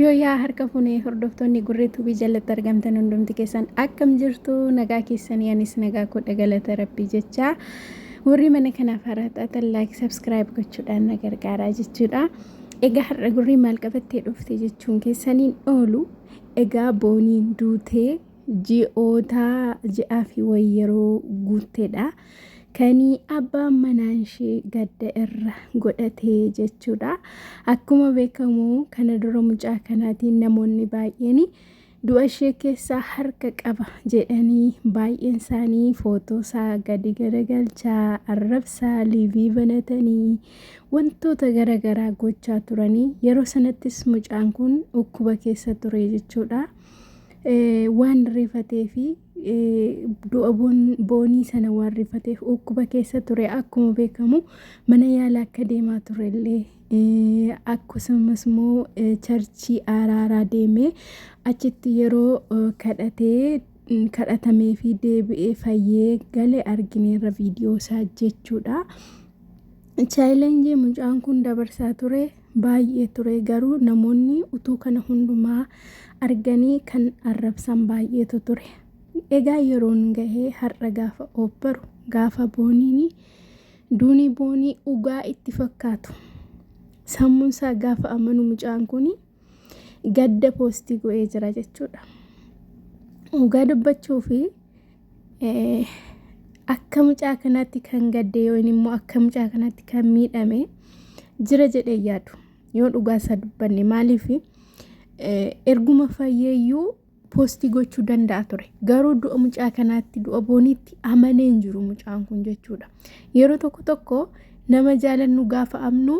Yoo yaa harka fuune hordoftoonni gurree tuubii jalatti argamtan hundumti keessan akkam jirtu nagaa keessanii anis nagaa koo dhagalata rabbii jechaa warri mana kanaaf haaraa taatan laayik sabskiraayib gochuudhaan na gargaaraa jechuudha. Egaa har'a gurree maal qabattee dhufte jechuun keessaniin oolu egaa booniin duutee ji'oota ji'aa fi wayii yeroo guutteedha. kani abbaan manaan ishee gadda irra godhate jechuudha. Akkuma beekamu kana dura mucaa kanaatiin namoonni baay'een du'a ishee keessaa harka qaba jedhanii baay'een isaanii footoo isaa gadi garagalchaa arrabsaa liivii banatanii wantoota garagaraa gochaa turanii yeroo sanattis mucaan kun dhukkuba keessa ture jechuudha. Waan rifatee fi du'a boonii sana waan rifateef dhukkuba keessa ture akkuma beekamu mana yaala akka deemaa ture illee akkasumas immoo charchii araaraa deemee achitti yeroo kadhatee kadhatamee fi deebi'ee fayyee gale argineerra viidiyoo isaa jechuudha. Chaayilenjii mucaan kun dabarsaa ture baay'ee ture garuu namoonni utuu kana hundumaa arganii kan arrabsan baay'eetu ture. Egaa yeroon gahee har'a gaafa oobbaru gaafa booniin duuni boonii ugaa itti fakkaatu. Sammuun isaa gaafa amanu mucaan kun gadda poostii go'ee jira jechuudha. Ugaa dubbachuu fi akka mucaa kanaatti kan gadde yoo inni immoo akka mucaa kanaatti kan miidhame jira jedhee yaadu yoo dhugaa isaa dubbanne maaliif erguma fayyeeyyuu poostii gochuu danda'a ture garuu du'a mucaa kanaatti du'a booniitti amanee hin jiru mucaan kun jechuudha yeroo tokko tokko nama jaalannu gaafa amnu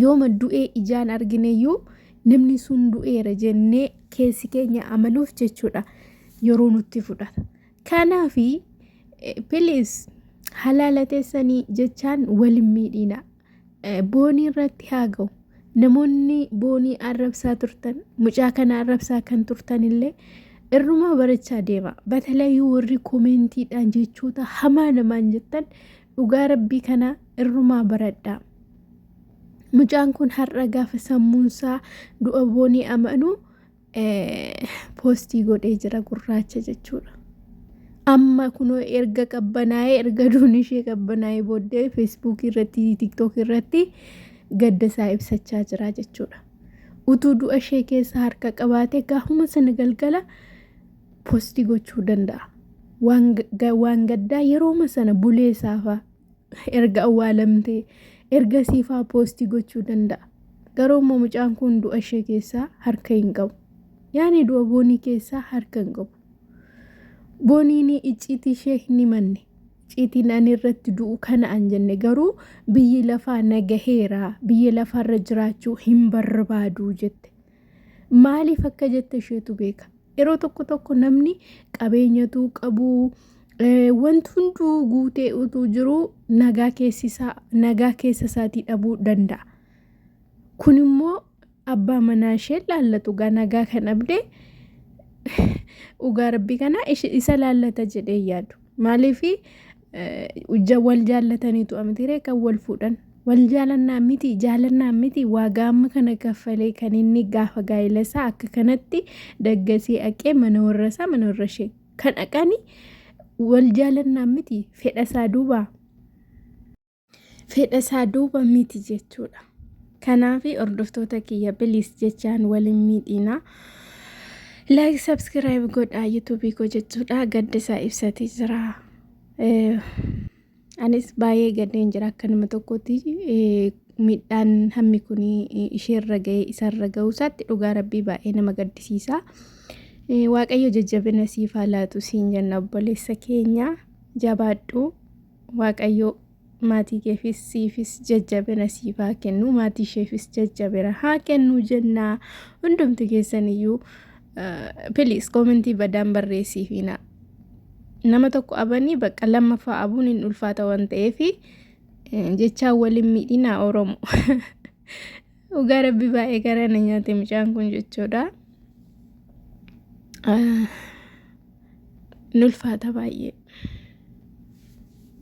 yooma du'ee ijaan argineyyuu Namni sun du'eera jennee keessi keenya amanuuf jechuudha yeroo nutti fudhata. Kanaaf piliis halaala teessanii jechaan waliin miidhiina. Boonii irratti haa ga'u. Namoonni boonii arrabsaa turtan mucaa kana arrabsaa kan turtan illee irrumaa barachaa deema. Batalayyuu warri koomentiidhaan jechoota hamaa namaan jettan Dhugaa rabbii kana irrumaa baradhaa. Mucaan kun har'a gaafa sammuunsaa du'a boonii amanu poostii godhee jira gurraacha jechuudha. Amma kunoo erga qabbanaa'ee erga duun ishee qabbanaa'ee booddee feesbuukii irratti tiktookii irratti gadda isaa ibsachaa jira jechuudha. Utuu du'a ishee keessa harka qabaatee gaafuma sana galgala posti gochuu danda'a. Waan ga- waan gaddaa yerooma sana bulee saafaa erga awwaalamtee erga siifaa posti gochuu danda'a. Garuu immoo mucaan kun du'a ishee keessaa harka hin qabu. Yaani du'a boonii keessaa harka hin qabu. Booniin icciitii ishee hin himanne. Icciitiin ani irratti du'u kana an jenne garuu biyyi lafaa nagaheera biyya lafaarra jiraachuu hin barbaadu jette. Maaliif akka jette isheetu beeka. Yeroo tokko tokko namni qabeenyatuu qabu wanti hunduu guutee utuu jiru nagaa keessisaa nagaa keessa isaatii dhabuu danda'a. Kun immoo abbaa manaa ishee laallatu gaa nagaa kan dhabde dhugaa rabbii kana isa laallata jedhee yaadu. Maaliif wal jaallataniitu amitiiree kan wal fuudhan wal jaalannaa miti jaalannaa miti waagaa amma kana kaffalee kan inni gaafa gaa'ela isaa akka kanatti daggasee aqee mana warra isaa mana warra ishee kan aqani wal jaalannaa miti fedha isaa duubaa. fedha isaa duuba miti jechuudha. Kanaaf hordoftoota kiyya biliis jechaan waliin miidhiinaa. Like subscribe godhaa YouTube koo jechuudha. Gadda isaa ibsatee jira. Anis baay'ee gaddeen jira akka nama tokkotti miidhaan hammi kun isheerra ga'e isarra ga'uu isaatti dhugaa rabbii baay'ee nama gaddisiisa. Waaqayyo jajjabina siif haa laatu siin jenna obboleessa keenya jabaadhu. Waaqayyoo maatii keefis siifis jajjabina siif haa kennu maatii isheefis jajjabina haa kennu jennaa hundumti keessan iyyuu piliis koomentii badaan barreessiifiina nama tokko abanii bakka lammaffaa abuun hin ulfaata waan ta'eef jechaa waliin miidhinaa oromo Dhugaa rabbi baay'ee garaa na nyaate mucaan kun jechuudha. Nulfaata baay'ee.